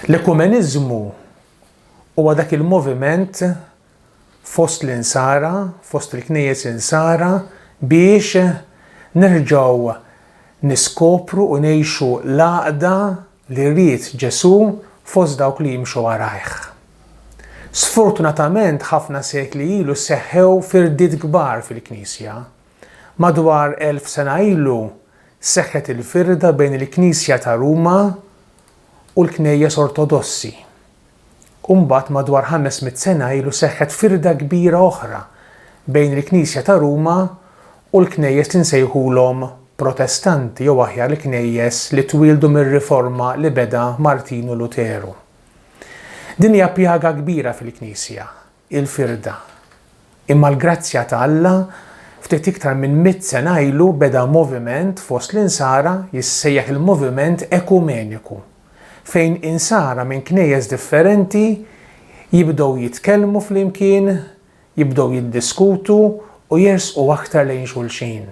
L-ekumeniżmu huwa dak il-moviment fost l-insara, fost il-knejjes insara biex nerġgħu niskopru u ngħixu l-għaqda li ried Ġesù fost dawk li jimxu warajh. Sfortunatament ħafna sekli ilu seħħew firdiet kbar fil-Knisja, Madwar elf sena ilu seħħet il-firda bejn il-Knisja ta' Ruma u l-Knejjes Ortodossi. U mbagħad madwar ħames mitt sena ilu seħħet firda kbira oħra bejn il-Knisja ta' Ruma u l-Knejjes li nsejħulhom Protestanti jew aħjar il-Knejjes li twieldu mir-Riforma li beda Martinu Luteru. Din hija pjaga kbira fil-Knisja, il-firda. Imma l-grazzja ta' Alla, ftit iktar minn mitt sena ilu beda moviment fost l-Insara jissejjaħ il-Moviment Ekumeniku, fejn Insara minn knejjes differenti jibdew jitkellmu flimkien, jibdew jiddiskutu u jersqu aktar lejn xulxin.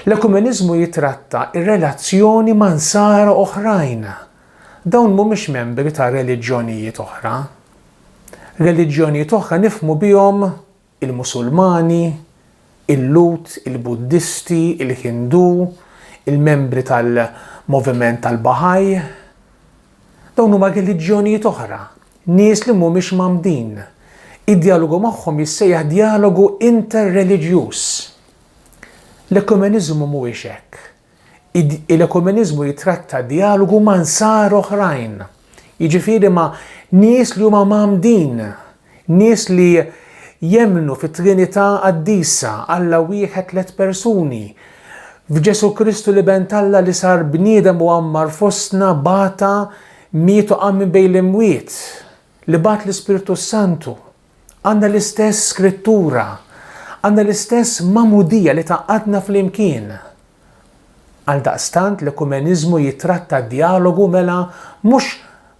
L-ekumeniżmu jitratta r-relazzjoni ma' Nsara oħrajn Dawn mhumiex membri ta' reliġjonijiet oħra. Reliġjonijiet oħra nifhmu bihom il-Musulmani, il-Lhud, il-Buddisti, il-Hindu, il-membri tal-moviment tal-Bahá'í. Dawn huma reliġjonijiet oħra, nies li mhumiex mgħammdin. Id-djalogu magħhom jissejjaħ djalogu inter-reliġjuż. L-ekumeniżmu mhuwiex hekk. Il-ekumeniżmu jitratta djalogu ma' Nsara oħrajn, jiġifieri ma' nies li huma mgħammdin, nies li jemmnu fit-Trinità Qaddisa, Alla wieħed tliet persuni, f'Ġesù Kristu l-Iben t'Alla li sar bniedem u għammar fostna, bata, miet u qam minn bejn l-imwiet, li bagħat l-Ispirtu s-Santu. Għandna l-istess Skrittura. Għandna l-istess magħmudija li tgħaqqadna flimkien. Għaldaqstant l-ekumeniżmu jittratta d-djalogu mela mhux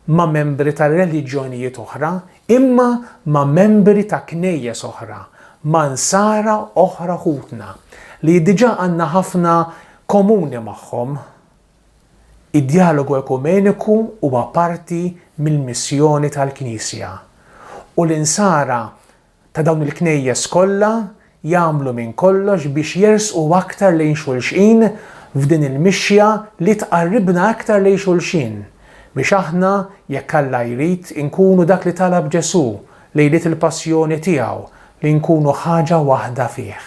ma' membri ta' reliġjonijiet oħra, imma ma' membri ta' Knejjes oħra, ma' Nsara oħra ħutna, li diġà għandna ħafna komuni magħhom. Id-djalogu ekumeniku huwa parti mill-missjoni tal-Knisja, u l-Insara ta' dawn il-Knejjes kollha jagħmlu minn kollox biex jersqu aktar lejn xulxin f'din il-mixja li tqarribna aktar lejn xulxin, biex aħna, jekk Alla jrid, inkunu dak li talab Ġesù lejliet il-Passjoni tiegħu, li nkunu ħaġa waħda fih.